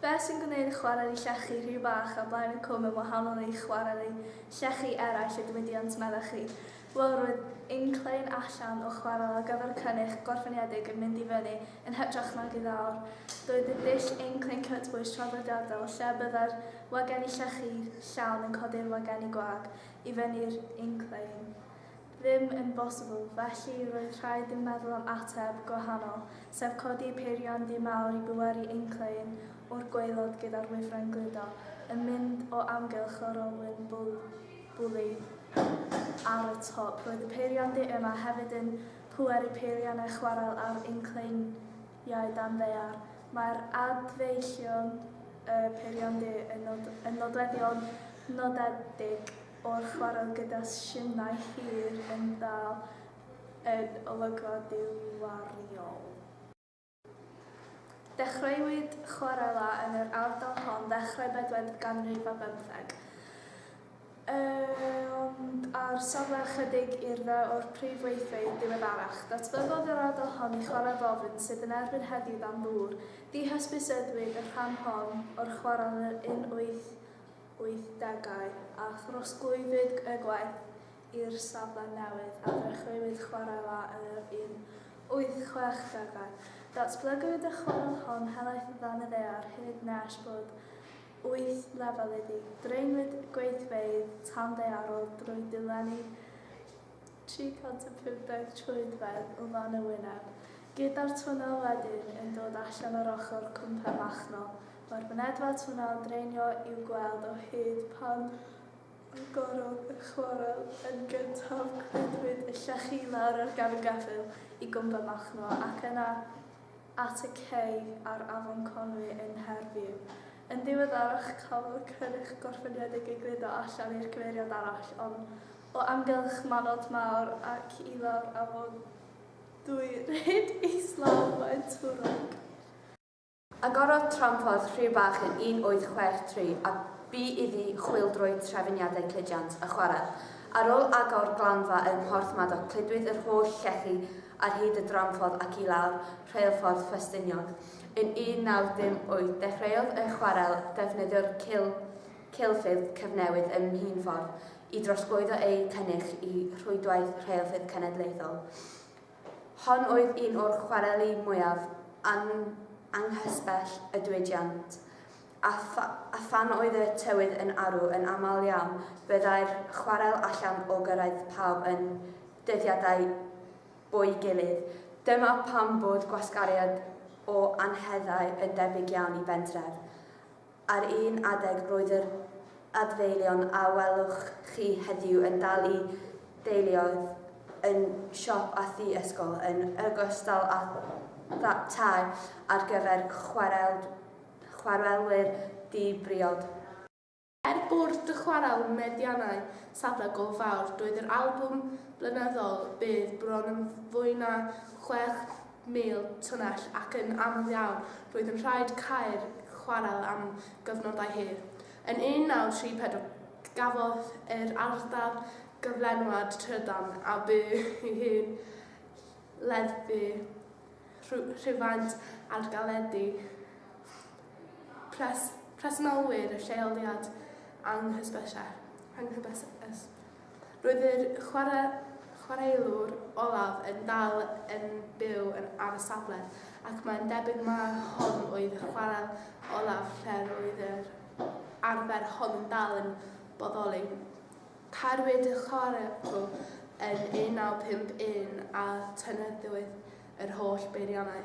Beth sy'n gwneud chwareli llechi rhy fach a blaen y cwm yn wahanol i chwareli llechi eraill y diwydiant, meddech chi? Wel, roedd inclein allan o chwarel ar gyfer cynych gorffeniedig yn mynd i fyny yn hytrach nag i lawr. Doedd y dull inclein cytbwys traddodiadol, lle y byddai'r wagenni llechi llawn yn codi'r wagenni gwag i fyny'r inclein, ddim yn bosibl, felly roedd rhaid i'n meddwl am ateb gwahanol, sef codi peiriant du mawr i bwerau ein clein o'r gwaelod gyda'r wifren gludo yn mynd o amgylch yr olwyn bwli ar y top. Roedd y peiriant du yma hefyd yn pweru peiriannau chwarel ar ein cleiniau dan ddaear. Mae'r adfeillion y peiriant du yn nodweddion nodedig. o'r chwarel gyda siynau hir yn dal yn olygfa ddiwariol. Dechreuwyd chwarela yn yr ardal hon ddechrau bedwar ganrif ar bymtheg, ond ar safle ychydig i'r dde o'r prif weithfeydd diweddarach, datblygodd yr ardal hon i chwarel ddofn sydd yn erbyn heddiw dan ddŵr. Dihysbyseddwyd y rhan hon o'r chwarel yn yr un wyth 1980au a throsglwyddid y gwaith i'r safle newydd a ddechreuwyd chwarae la yn yr 1860au. Datblygwyd y chwarel hon helaeth o dan y ddaear hyd nes bod wyth lefel iddi. Draenwyd gweithfeydd tanddaearol drwy ddilenni 350 troedfedd o dan y wyneb, gyda'r twnnel wedyn yn dod allan o'r ochr cwmpen machnol. Mae'r mynedfa twnnel draenio i'w gweld o hyd pan agorodd y chwarel yn gyntaf, cludwyd y llechi i lawr ar gefn geffyl i gwmpen machnol ac yna at y cei ar afon Conwy yn Nghaerdydd. Yn ddiweddarach cafodd y cynnyrch gorffeniedig ei gludo allan i'r cyfeiriad arall, ond o amgylch Manod Mawr ac i lawr afon Dwy Rhyd islaw Faen Twrog. Agorodd Tramporth Rhiw Bach yn 1863 a bu iddi chwyldroi trefyniadau cludiant a chwarel. Ar ôl agor glanfa ym Mhorth Madoc cludwyd yr holl llechi ar hyd y dramffordd ac i lawr Rheilffordd Ffestiniog. Yn 1958 dechreuodd y chwarel ddefnyddio'r cil, cilfydd cyfnewid ym Mhîn Ffordd i drosglwyddo eu cynnyrch i rhwydwaith rheilffyrdd cenedlaethol. Hon oedd un o'r chwareli mwyaf anghysbell y diwydiant, a, pha, a phan oedd y tywydd yn arw yn aml iawn, byddai'r chwarel allan o gyrraedd pawb yn dyddiadau bo'i gilydd. Dyma pam bod gwasgariad o anheddau yn debyg iawn i bentref. Ar un adeg roedd yr adfeilion a welwch chi heddiw yn dal i deuluoedd yn siop a thu ysgol, yn ogystal â thai ar gyfer chwarelwyr di-briod. Er bod dy chwarel meddiannau safle go fawr, doedd yr albwm blynyddol byth bron yn fwy na chwech mil tunnell ac yn aml iawn roedd yn rhaid cau'r chwarel am gyfnodau hir. Yn 1934 gafodd yr ardal gyflenwad trydan a bu ei hun leddfu rhywfaint ar galedi pres presennolwyr y lleoliad anghysbyseb. Anghybeseb. Roedd yr chwaraewr olaf yn dal yn byw yn ar y safle ac mae'n debyg mai hon oedd y chwarel olaf lle roedd yr arfer hon yn dal yn bodoli. Tagwyd y chwarel yn 1951 a tynnyddiwyd yr holl beiriannau.